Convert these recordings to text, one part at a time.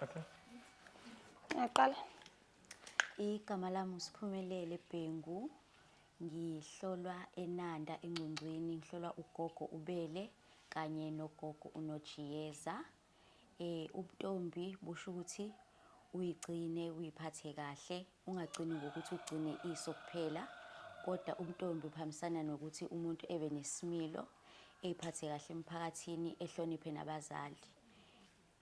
Okay. Ngaqala. Igama lami uSiphumelele Bhengu. Ngihlolwa eNanda eNgcongcweni, ngihlolwa ugogo uBele kanye nogogo uNojiyeza. Eh ubuntombi busho ukuthi uyigcine uyiphathe kahle, ungagcini ngokuthi ugcine iso kuphela, kodwa ubuntombi buhambisana nokuthi umuntu ebe nesimilo, eyiphathe kahle emphakathini, ehloniphe nabazali.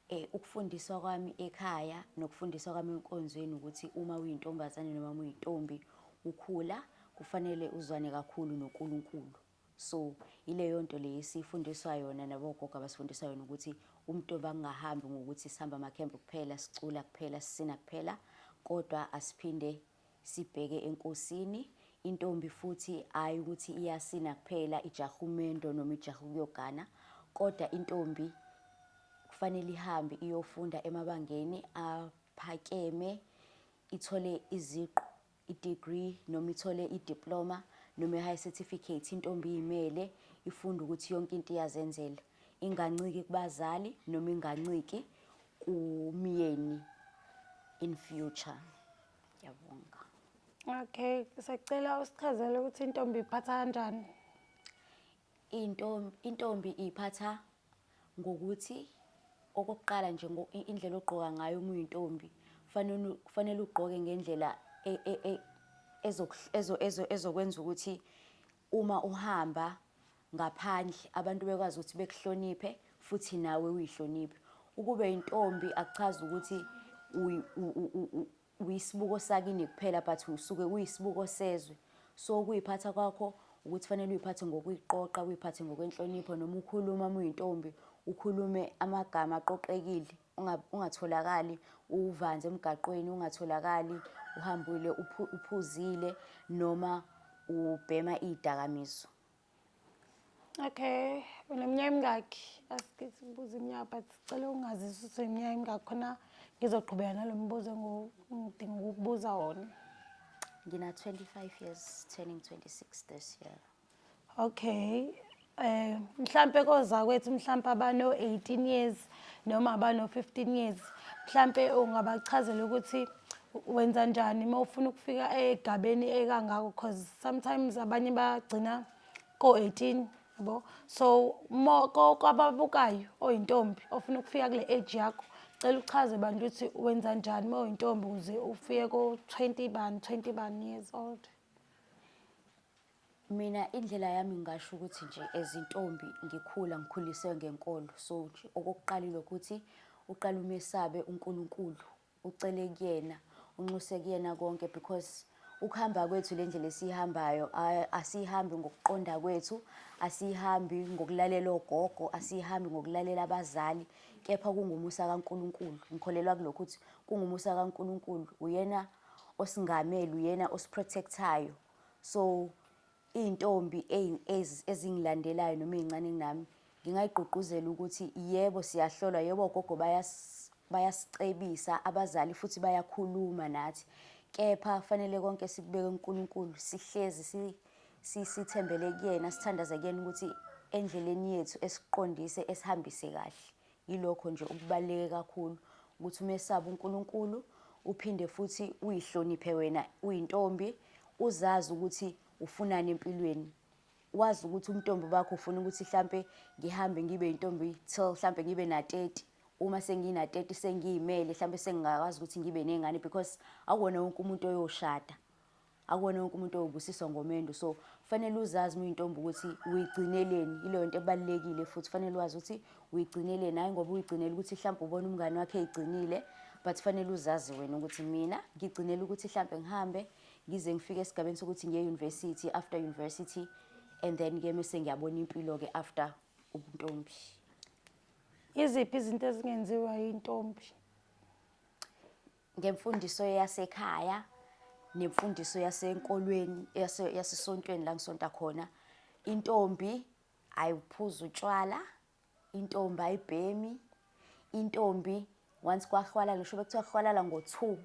Eh ukufundiswa kwami ekhaya nokufundiswa kwami enkonzweni ukuthi uma uyintombazane noma uma uyintombi ukhula kufanele uzwane kakhulu noNkulunkulu. So ileyo nto le esifundiswa yona nabogogo abasifundiswa yona ukuthi umntombi angahambi ngokuthi sihamba amakhembe kuphela, sicula kuphela, sisina kuphela kodwa asiphinde Sibheke enkosini, intombi futhi ayi ukuthi iyasina kuphela ijaha umendo noma ijaha ukuyogana kodwa intombi kufanele ihambe iyofunda emabangeni aphakeme ithole iziqu i-degree noma ithole i-diploma noma i-high certificate intombi iyimele ifunde ukuthi yonke into iyazenzela inganciki kubazali noma inganciki kumyeni in future ngiyabonga okay sacela usichazele ukuthi intombi iphatha kanjani intombi intombi iphatha ngokuthi okokuqala nje indlela ogqoka ngayo uma uyintombi kufanele kufanele ugqoke ngendlela e, e, e, ezokwenza ukuthi Uma uhamba ngaphandle abantu bekwazi ukuthi bekuhloniphe futhi nawe uyihloniphe. Ukube yintombi akuchazi ukuthi uyisibuko sakini kuphela but usuke uyisibuko sezwe. So ukuyiphatha kwakho ukuthi fanele uyiphathe ngokuyiqoqa, uyiphathe ngokwenhlonipho noma ukhuluma uma uyintombi ukhulume amagama aqoqekile. ungatholakali uvanzi emgaqweni, ungatholakali uhambile uphuzile noma ubhema iy'dakamizwa. Okay, uneminyaka emingakhi? Asikisi kubuza iminyaka but sicela ungazisa ukuthi uneminyaka emingakhi khona ngizoqhubeka nalo mbuzo engidinga ukukubuza wona. Ngina-25 years turning 26 this year. Okay. Eh mhlambe kozakwethu mhlambe abano 18 years noma abano 15 years mhlambe ungabachazela ukuthi wenza njani uma ufuna ukufika egabeni ekangako because sometimes abanye bagcina ko 18 yabo so kwababukayo oyintombi ofuna ukufika kule age yakho cela uchaze bandla ukuthi wenza njani uma uyintombi ukuze ufike ko 20 bani 20 bani years old Mina indlela yami ngingasho ukuthi nje as intombi ngikhula ngikhuliswe ngenkolo so nje okokuqala ilokuthi uqala umesabe uNkulunkulu ucele kuyena unxuse kuyena konke because ukuhamba kwethu le ndlela esiyihambayo asiyihambi ngokuqonda kwethu asiyihambi ngokulalela ogogo asiyihambi ngokulalela abazali kepha kungumusa kaNkulunkulu ngikholelwa kulokhu ukuthi kungumusa kaNkulunkulu uyena osingamele uyena osiprotectayo So iy'ntombi ezingilandelayo noma ey'ncane kunami ngingayigqugquzela ukuthi yebo siyahlolwa, yebo ogogo bayasicebisa abazali futhi bayakhuluma nathi. Kepha kufanele konke sikubeke kuNkulunkulu, sihlezi sithembele kuyena, sithandaze kuyena ukuthi endleleni yethu esiqondise esihambise kahle. Yilokho nje okubaluleke kakhulu ukuthi umesabe uNkulunkulu uphinde futhi uyihloniphe wena uyintombi uzazi ukuthi ufunani empilweni wazi ukuthi umntombi bakho ufuna ukuthi hlampe ngihambe ngibe yintombi till hlampe ngibe na 30 uma sengina 30 sengiyimele hlampe sengingakwazi ukuthi ngibe nezingane because akuwona wonke umuntu oyoshada akuwona wonke umuntu owubusiswa ngomendo so kufanele uzazi uma uyintombi ukuthi uyigcineleni ileyo nto ebalulekile futhi kufanele wazi ukuthi uyigcineleni hhayi ngoba uyigcinela ukuthi mhlawumbe ubona umngane wakhe eyigcinile but kufanele uzazi wena ukuthi mina ngigcinela ukuthi mhlawumbe ngihambe ngize ngifike esigabeni sokuthi ngiye university after university and then ke mese ngiyabona impilo ke after ubuntombi iziphi izinto ezingenziwa yintombi ngemfundiso yasekhaya nemfundiso yasenkolweni yasesontweni la ngisonta khona intombi ayiphuza utshwala intombi ayibhemi intombi once kwahwalala ngisho bekuthiwa kuhwalala ngo-two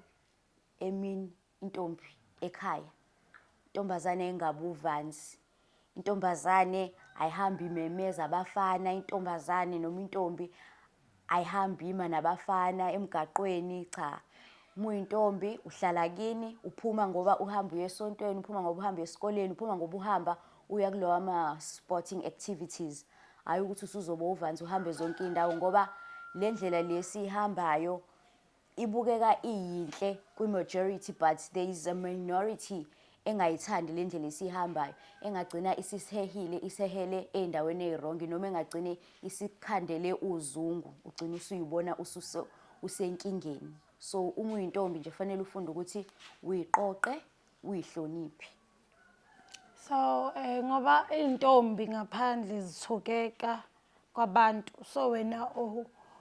emini intombi ekhaya intombazane engabuvanzi Intombazane ayihambi imemeza abafana, intombazane noma intombi ayihambi ima nabafana emgaqweni, cha. Uma uyintombi uhlala kini, uphuma ngoba uhamba uye esontweni, uphuma ngoba uhamba esikoleni, uphuma ngoba uhamba uya kulowa ma-sporting activities. Hhayi ukuthi usuzoba uvanzi uhambe zonke iy'ndawo ngoba le ndlela le esiyihambayo ibukeka iyinhle kwi-majority but there is a minority engayithandi le ndlela esiyihambayo engagcina isisihehile isehele ey'ndaweni ey'rongi noma engagcine isikhandele uzungu ugcine usuyibona usenkingeni so uma uyintombi nje fanele ufunde ukuthi uyiqoqe uyihloniphe So eh ngoba izintombi ngaphandle zithukeka kwabantu so wena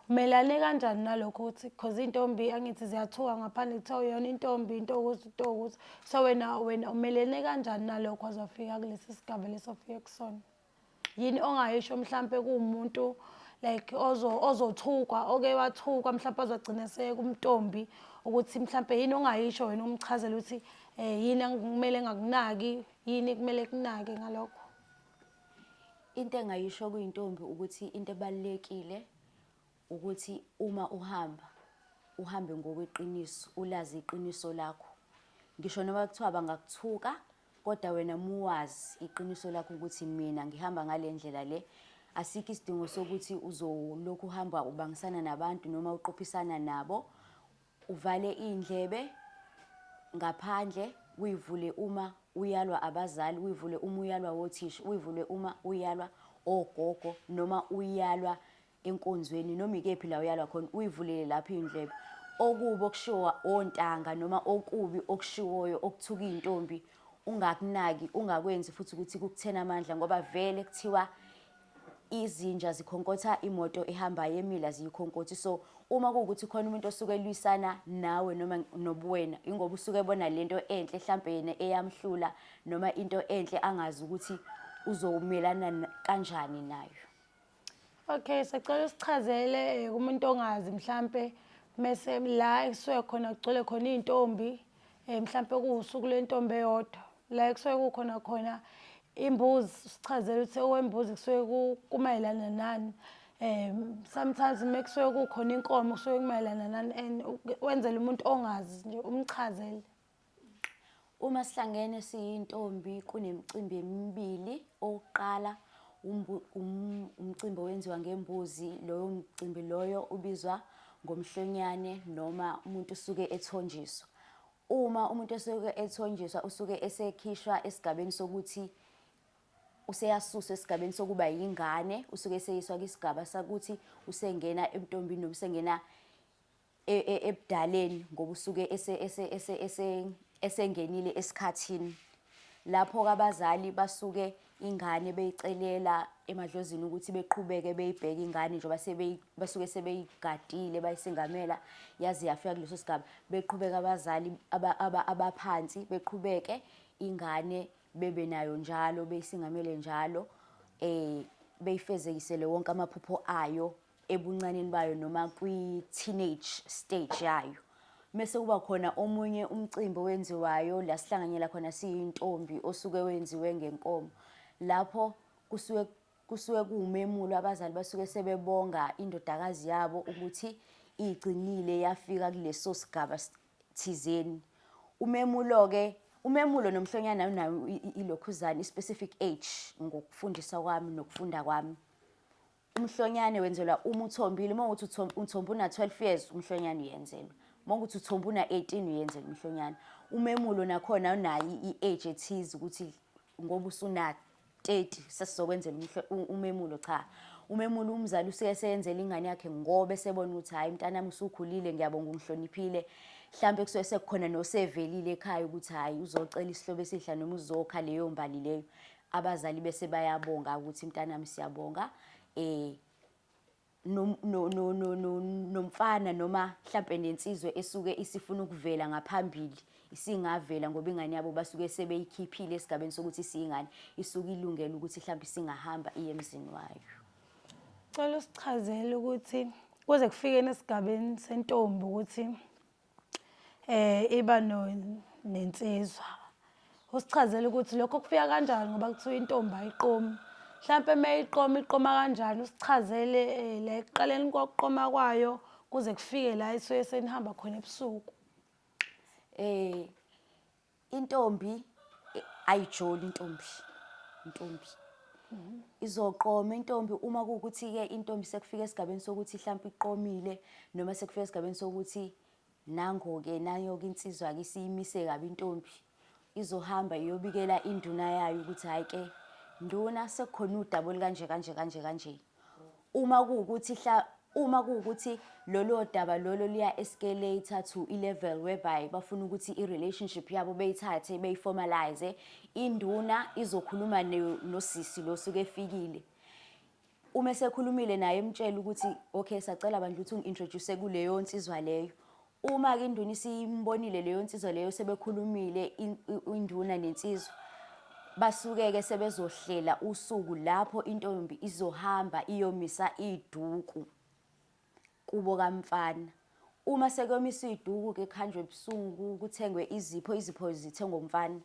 umelane kanjani nalokho ukuthi because izintombi angithi ziyathuka ngaphandle kuthiwa uyona intombi into ukuthi into ukuthi so wena wena umelene kanjani nalokho wazofika kulesi sigaba lesofika kusona. yini ongayisho mhlampe kuwumuntu like ozo ozothukwa oke wathukwa mhlampe azogcina sekumtombi ukuthi mhlampe yini ongayisho wena umchazela ukuthi eh yini kumele ngakunaki yini kumele kunake ngalokho into engayisho kuyintombi ukuthi into ebalekile Ukuthi uma uhamba, uhambe ngokweqiniso, ulazi iqiniso lakho. Ngisho noma kuthiwa bangakuthuka, kodwa wena muwazi iqiniso lakho ukuthi mina ngihamba ngale ndlela le. Asikho isidingo sokuthi uzolokhu uhamba ubangisana nabantu noma uqophisana nabo. Uvale iy'ndlebe ngaphandle, uyivule uma uyalwa abazali, uyivule uma uyalwa wothisha, uyivule uma uyalwa ogogo noma uyalwa enkonzweni noma ikephi la uyalwa khona uyivulele lapho iy'ndlebe okubi okushiwo ontanga noma okubi okushiwoyo okuthuka iy'ntombi ungakunaki ungakwenzi futhi ukuthi kukuthena amandla ngoba vele kuthiwa izinja zikhonkotha imoto ehambayo emila ziyikhonkotha so uma kuwukuthi khona umuntu osuke elwisana nawe noma nobuwena ingoba usuke ebona lento enhle mhlambe yena eyamhlula noma into enhle angazi ukuthi uzomelana kanjani nayo Okay, sacela usichazele eh, kumuntu ongazi mhlampe mese la ekusuke khona kugcwele khona izintombi eh mhlampe kuwusuku lentombi eyodwa la ekusuke kukhona khona imbuzi sichazele ukuthi owembuzi kusuke kumayelana nani eh sometimes uma kusuke kukhona inkomo kusuke kumayelana nani and wenzele umuntu ongazi nje umchazele Uma sihlangene siyintombi kunemicimbi emibili. Owokuqala umcimbi owenziwa ngembuzi, loyo mcimbi loyo ubizwa ngomhlonyane noma umuntu usuke ethonjiswa. Uma umuntu esuke ethonjiswa usuke esekhishwa esigabeni sokuthi useyasuswa esigabeni sokuba yingane, usuke eseyiswa kwisigaba sakuthi usengena ebuntombini noma usengena e, e, ebudaleni ngoba usuke esengenile esikhathini lapho abazali basuke ingane beyicelela emadlozini ukuthi beqhubeke beyibheke ingane njengoba basuke sebeyigadile bayisingamela yaze yafika kuleso sigaba beqhubeka abazali abaphansi beqhubeke ingane bebe nayo njalo beyisingamele njalo eh beyifezekisele wonke amaphupho ayo ebuncaneni bayo noma kwi-teenage stage yayo mese kuba khona omunye umcimbi owenziwayo la sihlanganyela khona siyintombi osuke wenziwe ngenkomo lapho kusuke kusuke kuwumemulo abazali basuke sebebonga indodakazi yabo ukuthi igcinile yafika kuleso sigaba thizeni umemulo-ke umemulo nomhlonyana unayo ilokhuzane i-specific age ngokufundisa kwami nokufunda kwami Umhlonyane wenzelwa uma uthombile, uma ukuthi uthomba una-12 years umhlonyane uyenzelwa. Uma ukuthi uthomba una-18 uyenzelwa umhlonyane. Umemulo nakhona unayo i-age ethize ukuthi ngoba usuna 30 sesizokwenzela umemulo cha umemula umzali usuke seyenzela ingane yakhe ngoba esebona ukuthi hhayi mntanami usukhulile ngiyabonga ungihloniphile mhlawumbe kusuke sekukhona nosevelile ekhaya ukuthi hhayi uzocela isihlobo esihla noma uzokha leyo mbali leyo abazali bese bayabonga ukuthi mntanami siyabonga eh nomfana noma mhlampe nensizwe esuke isifuna ukuvela ngaphambili isingavela ngoba ingane yabo basuke sebeyikhiphile esigabeni sokuthi isiyingane isuke ilungele ukuthi mhlampe singahamba iye emzini wayo cela usichazele ukuthi kuze kufikeni esigabeni sentombi ukuthi eh iba no nensizwa usichazela ukuthi lokho kufika kanjani ngoba kuthiwa intombi ayiqomi mhlampe mayiqoma iqoma kanjani usichazele eh, la ekuqaleni kokuqoma kwayo kuze kufike la isuke senihamba khona ebusuku eh Intombi eh, ayijoli intombi. Intombi. Izoqoma intombi uma kuwukuthi ke intombi sekufika esigabeni sokuthi mhlawumbe iqomile noma sekufika esigabeni sokuthi nango ke nayo ke insizwa ke siyimise kabi intombi. Izohamba iyobikela induna yayo ukuthi hayi ke nduna sekukhona udaba olukanje kanje kanje kanje. Uma kuwukuthi hla uma kuwukuthi lolo daba lolo liya escalate to ilevel whereby bafuna ukuthi irelationship yabo beyithathe beyiformalize induna izokhuluma nosisi lo suke efikile uma esekhulumile naye emtshela ukuthi okay sacela bandla ukuthi ungi-introduce kuleyo nsizwa leyo Uma-ke induna isimbonile leyo nsizwa leyo sebekhulumile induna nensizwa basuke-ke sebezohlela usuku lapho intombi izohamba iyomisa iduku kubo kamfana uma sekuyomiswa iduku-ke kuhanjwe ebusuku kuthengwe izipho izipho zithengwe umfana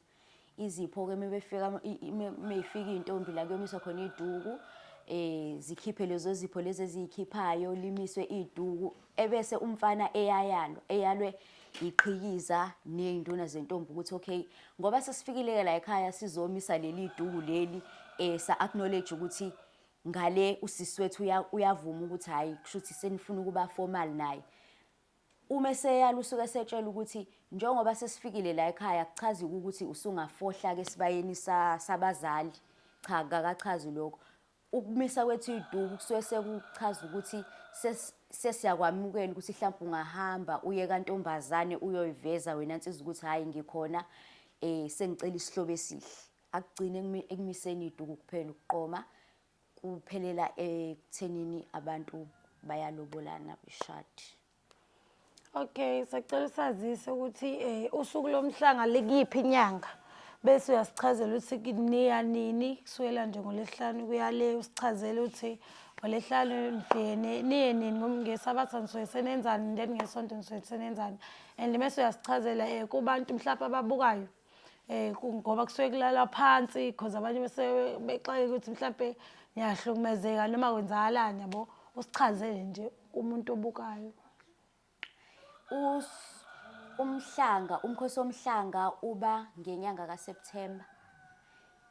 izipho-ke meyifika iy'ntombi la kuyomiswa khona iy'duku um eh, zikhiphe lezo zipho lezi eziyikhiphayo limiswe iy'duku ebese umfana eyayalwa eyalwe yiqhikiza ney'nduna zentombi ukuthi okay ngoba sesifikile-ke la ekhaya sizomisa leli duku leli um sa-acknowledge ukuthi ngale usisi wethu uyavuma ukuthi hhayi kusho ukuthi senifuna ukuba formal naye Uma eseyala usuke esetshelwa ukuthi njengoba sesifikile la ekhaya akuchazi-ke ukuthi usungafohla-ke esibayeni sabazali. Cha kakachazi lokho. Ukumisa kwethu iy'duku kusuke sekuchaza ukuthi sesiyakwamukela ukuthi hlampe ungahamba uye kantombazane uyoyiveza wena nsizwa ukuthi hhayi ngikhona um sengicela isihlobo esihle. Akugcini ekumiseni iy'duku kuphela ukuqoma. kuphelela ekuthenini abantu bayalobolana beshadi okay sacela usazise ukuthi um usuku lomhlanga likuyiphi inyanga bese uyasichazela ukuthi niya nini kusukela nje ngolesihlanu kuyale usichazele ukuthi ngolesihlanu nibhene niye nini ngesabatha nisuke senenzani then ngesonto nisuke senenzani and mese uyasichazela um kubantu mhlawumpe ababukayo Eh, ngoba kusuke kulalwa phansi because abanye bese bexake ukuthi mhlampe ngiyahlukumezeka noma kwenzakalani yabo usichazele nje umuntu obukayo umhlanga umkhosi womhlanga uba ngenyanga kaSeptember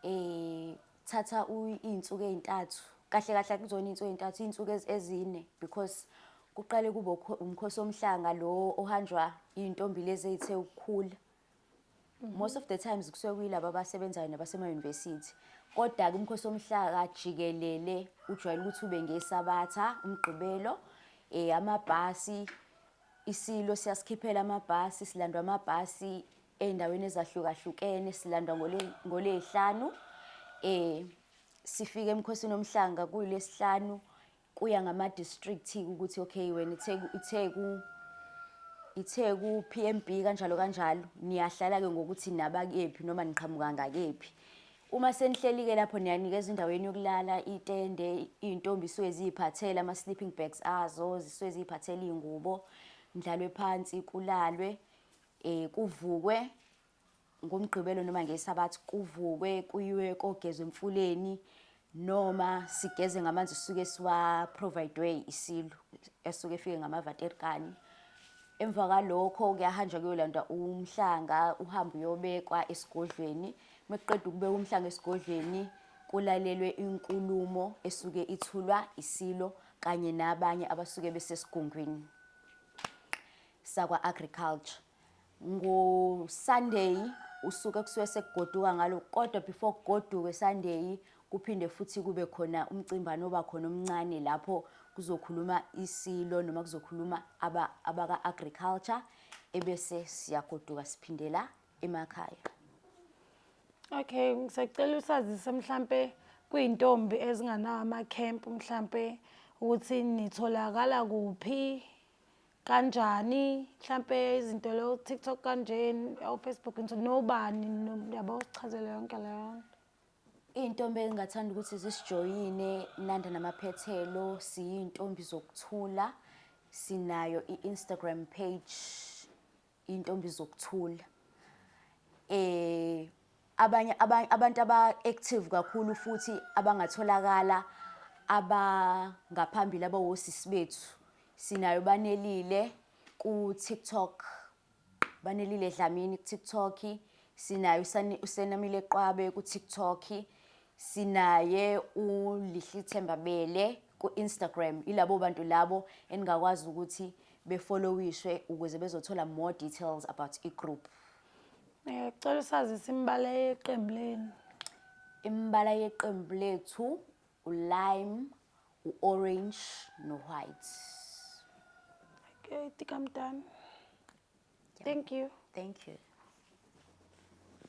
eh thatha izinsuku ezintathu kahle kahle kuzona izinsuku ezintathu izinsuku ezine because kuqale kube umkhosi womhlanga lo ohanjwa izintombi lezi ezithe ukukhula most of the times kusuke kuyilaba abasebenzayo nabasema-university kodwa-ke umkhosi womhlaka jikelele ujwayele ukuthi ube ngesabatha umgqibelo um amabhasi isilo siyasikhiphela amabhasi silandwa amabhasi ey'ndaweni ezahlukahlukene silandwa ngoley'hlanu um sifike emkhosini omhlanga kuyilesihlanu Kuya ngama district ukuthi okay wena iTheku iTheku iTheku PMB kanjalo kanjalo niyahlala ke ngokuthi naba kephi noma niqhamuka ngakephi. Uma senihleli ke lapho niyanikezwa indawo yenu yokulala itende izintombi suke ziphathela ama sleeping bags azo zisuke ziphathela izingubo ndlalwe phansi kulalwe eh kuvukwe ngomgqibelo noma ngesabathi kuvukwe kuyiwe kogezwa emfuleni noma sigeze ngamanzi esuke siwa-providwe isilu esuke efike ngamavaterikani emva kwalokho kuyahanjwa kuyolandwa umhlanga uhambe uyobekwa esigodlweni uma kuqeda ukubeka umhlanga esigodlweni kulalelwe inkulumo esuke ithulwa isilo kanye nabanye abasuke besesigungwini sakwa-agriculture NgoSunday usuke kusuke sekugoduka ngalo kodwa before kugoduke Sunday kuphinde futhi kube khona umcimbano oba khona omncane lapho kuzokhuluma isilo noma kuzokhuluma aba abaka agriculture ebese siyagoduka siphindela emakhaya Okay ngisacela usazise mhlambe kuyintombi ezinganawo ama camp mhlambe ukuthi nitholakala kuphi kanjani mhlampe izinto lo TikTok kanjeni o-Facebook nje nobani yabo sichazele yonke leyo nto iy'ntombi engingathanda ukuthi zisijoyine nanda namaphethelo siyiy'ntombi zokuthula sinayo i-instagram page Intombi zokuthula. Eh abanye abantu aba active kakhulu futhi abangatholakala abangaphambili abawosisi bethu. Sinayo banelile ku TikTok. Banelile Dlamini ku TikTok. Sinayo usenamile Qwabe ku TikTok. Sinaye uLihlithemba Bele. ku-Instagram yilabo bantu labo eningakwazi ukuthi befollowishwe ukuze bezothola more details about i-group Eh, cela usazise imibala yeqembu lenu imibala yeqembu lethu ulime u-orange no-white okay tika mdani thank you thank you